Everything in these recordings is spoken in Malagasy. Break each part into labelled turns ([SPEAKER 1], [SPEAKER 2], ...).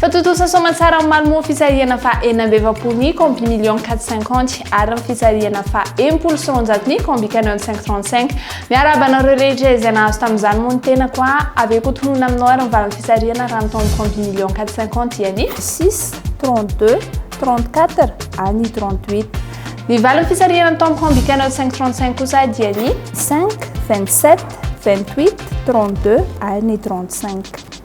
[SPEAKER 1] Fa tontosa soamantsara amin'ny Malmö fisarihana faha enina amby efapolo ny Combi Million quatre cinquante ary amin'ny fisarihana faha enimpolo sy roanjato ny Combi Canon cinq trente cinq. Miarahaba anareo rehetra izay nahazo tamin'izany moa ny tenako a! Avy eo koa tononina aminao ary ny valin'ny fisarihana raha ny tao amin'ny Combi Million quatre cinquante dia ny. Six, trente deux, trente quatre ary ny trente huit. Ny valin'ny fisarihana ny tao amin'ny Combi Canon cinq trente cinq kosa dia ny. Cinq, vingt sept, vingt huit, trente deux ary ny trente cinq.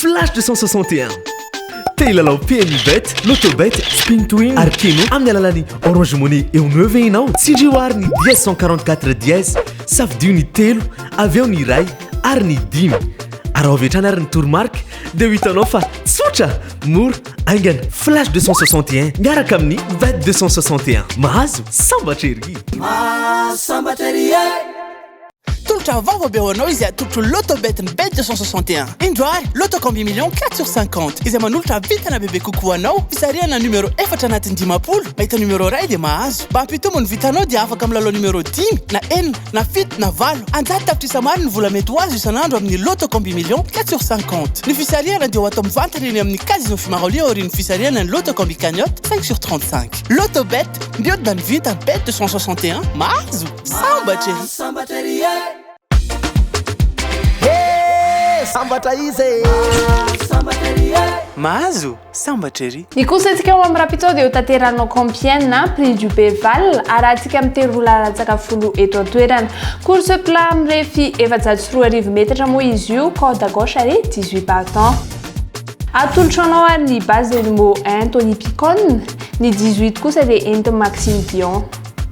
[SPEAKER 2] Flash 261.
[SPEAKER 3] Te hilalao PMU Bet, Lotto Bet, Spin to Win ary Keno amin'ny alalan'ny Orange Money eo no eo ve ianao? Tsindrio àry ny dièse 144 dièse, safidio ny telo, avy eo ny iray ary ny dimy. Araho avy hatrany àry ny toromarika dia ho hitanao fa tsotra, mora, haingana. Flash 261 miaraka amin'ny Bet 261. Mahazo sambatra ery! Mahazo sambatra
[SPEAKER 2] ery e! Tolotra vaovao be ho anao izay atolotro Lotto Bet ny Bet 261. Indro ary, Lotto Combi Millions 4 sur 50, izay manolotra vintana bebe kokoa ho anao, fisarihana numéro efatra anatin'ny dimampolo, mahita numéro iray dia mahazo. Mba hampitombo ny vintanao dia afaka milalao numéro dimy, na enina, na fito, na valo. An-jato tapitrisa maro ny vola mety ho azo isan'andro amin'ny Lotto Combi Millions 4 sur 50. Ny fisarihana dia ho atao mivantana eny amin'ny Casino Fimaroli aorian'ny fisarihana ny Lotto Combi Cagnotte 5 sur 35. Lotto Bet, mihodina ny vintana, Bet 261, mahazo! Sambatra e! Sambatra ery
[SPEAKER 4] e! He! Sambatra izy e! Sambatra ery e!
[SPEAKER 2] Mahazo? Sambatra ery! Ny kosa antsika ao amin'ny
[SPEAKER 1] Rapito dia ho tanterahana ao Compiègne, Prix du Béval, arahantsika amin'ny tery roa laharantsaka folo eto an-toerana. Course plat mirefy efajato sy roa arivo metatra moa izy io, corde à gauche ary dix huit battants. Atolotro anao ary ny base dia ny Moen Tony Picon, ny dix huit kosa dia entin'i Maxime Dion.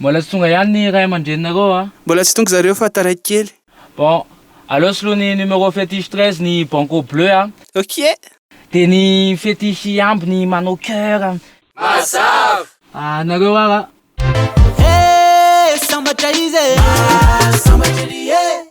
[SPEAKER 1] Mbola
[SPEAKER 5] tsy tonga ihany ny ray aman-dreninareo a! Mbola tsy tonga zareo fa
[SPEAKER 2] taraiky kely. Bon,
[SPEAKER 5] aleo soloy ny numéro fétiche 13 ny banco bleu a! Ok!
[SPEAKER 2] Dia ny
[SPEAKER 5] fétiche hiamby ny manao cœur a! Mazava!
[SPEAKER 6] Ah, nareo
[SPEAKER 5] ara! Hey!
[SPEAKER 2] Sambatra izy e! Ah, sambatra ery e!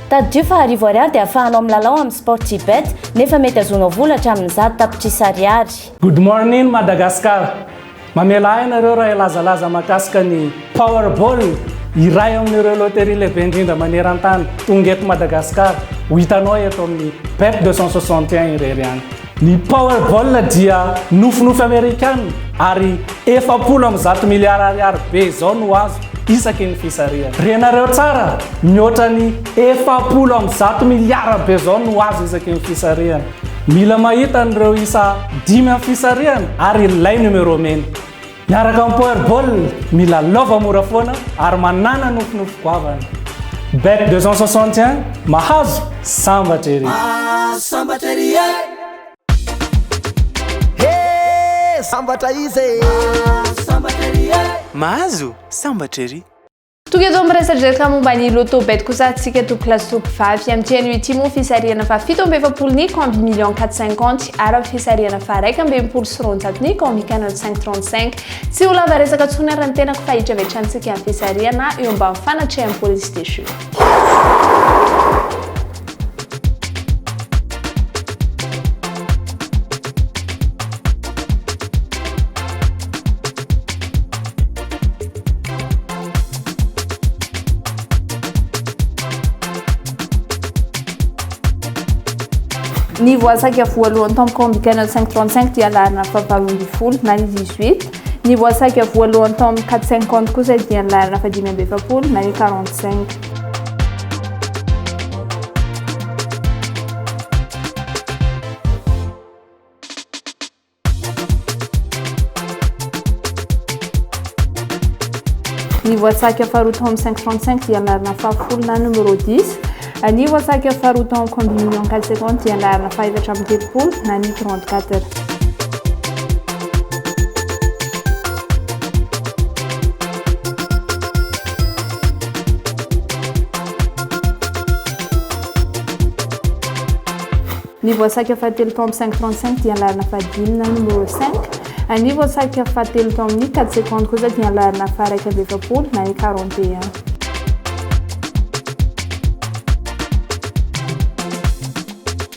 [SPEAKER 7] Tadidio fa arivo ariary dia afahanao milalao amin'ny Sportybet nefa mety azonao vola hatramin'ny zato tapitrisa ariary. Good morning
[SPEAKER 8] Madagascar! Mamela ahy ianareo raha hilazalaza mahakasika ny Powerball, iray amin'ireo loterie lehibe indrindra maneran-tany, tonga eto Madagascar, ho hitanao eto amin'ny Bet 261 irery ihany. Ny Powerball dia nofinofy Amerikana ary efapolo amby zato miliara ariary be izao no azo isaky ny fisarihana. Renareo tsara, mihoatra ny efapolo amby zato miliara be izao no azo isaky ny fisarihana. Mila mahita an'ireo isa dimy amin'ny fisarihana ary ilay numéro mena. Miaraka amin'ny Power Ball, mila lova mora foana ary manàna nofinofy goavana. Bet 261, mahazo, sambatra ery! Ah, sambatra ery e! He, sambatra
[SPEAKER 2] izy e! Ah,
[SPEAKER 4] sambatra ery e!
[SPEAKER 2] Mahazo, sambatra ery! Tonga eto amin'ny
[SPEAKER 1] resadresaka momba ny loto bet kosa antsika to classe to mpivavy amin'ity anio ity moa fisarihana fa fito amby efapolo ny combi million 450 ary amin'ny fisarihana fa raika amby enimpolo sy roanjato ny combi canon 535 tsy ho lava resaka tsony ary ny tenako fa hitravitrantsika amin'ny fisarihana eo ambany fanatreham-polisy déchu Ny voasaika voalohany tao amin'ny Comic Channel 535 dia laharana fahavalo ambin'ny folo na ny 18. Ny voasaika voalohany tao amin'ny 450 kosa dia ny laharana fahadimy amby efapolo na ny 45. Ny voatsaka faharoa tao amin'ny 535 dia anarana fahafolo na numéro 10. Ny voatsaka faharoa tao amin'ny communion 4 secondes dia anarana fahefatra amin'ny telopolo na ny 34. Ny voasarika fahatelo tao amin'ny 535 dia ny laharana fahadimy na numéro 5. Ary ny voasarika fahatelo tao amin'ny 4 secondes kosa dia ny laharana faharaika amby efapolo na ny 41.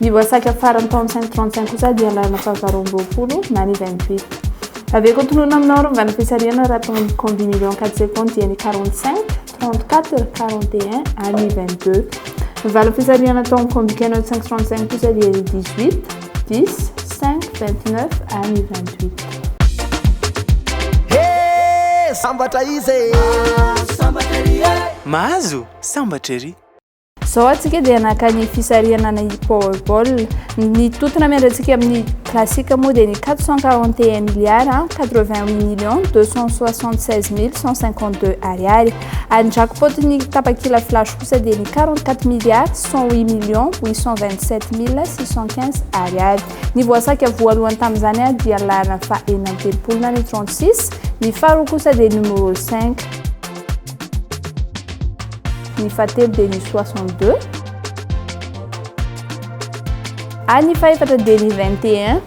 [SPEAKER 1] Ny voasakra faran'ny taon'ny cinq trente cinq kosa dia lalana fahavalo roa amby roapolo na ny vingt huit. Avy ko tononina aminao ry mivana fisarihana raha tonga ny combine million quatre secondes dia ny quarante cinq, trente quatre, quarante et un ary ny vingt deux. Ny valiny fisarihana atao amin'ny combine anao cinq trente cinq kosa dia ny dix huit, dix, cinq, vingt
[SPEAKER 4] neuf ary ny vingt huit. He! Sambatra
[SPEAKER 2] izy e! Mahazo! sambatra ery. Izao antsika
[SPEAKER 1] dia naka ny fisarihana ny Powerball. Ny tontona miandrantsika amin'ny classique moa dia ny 441 milliards 88 millions 276 mille 152 ariary. Ary ny jackpot-n'ny tapakila flash kosa dia ny 44 milliards 108 millions 827 mille 615 ariary. Ny voasaka voalohany tamin'izany dia ny laharana fahenina amby telopolo na ny 36, ny faharoa kosa dia numéro cinq. Ny fahatelo dia ny soixante deux. Ary ny fahefatra dia ny vingt et un.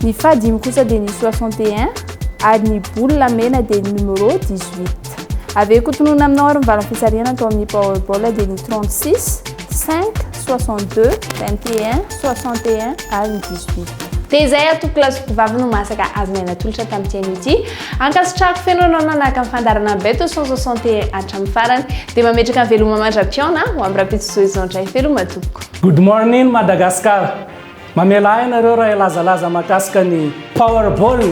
[SPEAKER 1] Ny fahadimy kosa dia ny soixante et un ary ny boule mena dia ny numéro dix huit. Avy eo kotonona aminao ary mivala fisarihana atao amin'ny powerball dia ny trente six, cinq, 62, 21, 61 ary ny 18. Dia izay atoko lahy sy mpivavy no masaka azy nay natolotra tamin'ity anio ity. Ankasitrahako feno anao nanaraka ny fandaharana ny Beto 161 hatramin'ny farany. Dia mametraka ny veloma mandra-pihaona ho amin'ny rahampitso Zoe Zandray veloma tompoko. Good morning
[SPEAKER 8] Madagascar. Mamelà ahy nareo raha hilazalaza mahakasika ny Powerball,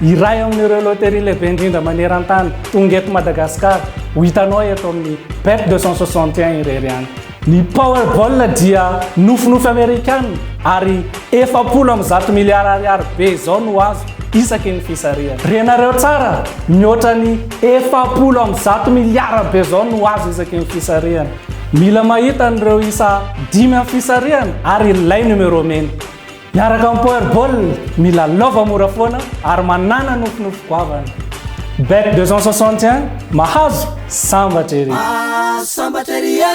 [SPEAKER 8] iray amin'ireo loterie lehibe indrindra maneran-tany, tonga eto Madagasikara, ho hitanao eto amin'ny Bet 261 irery ihany. Ny Powerball dia nofinofy Amerikana ary efapolo amby zato miliara ariary be izao no azo isaky ny fisarihana. Renareo tsara, mihoatra ny efapolo amby zato miliara be izao no azo isaky ny fisarihana. Mila mahita an'ireo isa dimy amin'ny fisarihana ary ilay numéro mena. Miaraka amin'ny Powerball, mila lova mora foana ary manàna nofinofy goavana. Bet 261, mahazo sambatra ery! Mahazo sambatra ery e!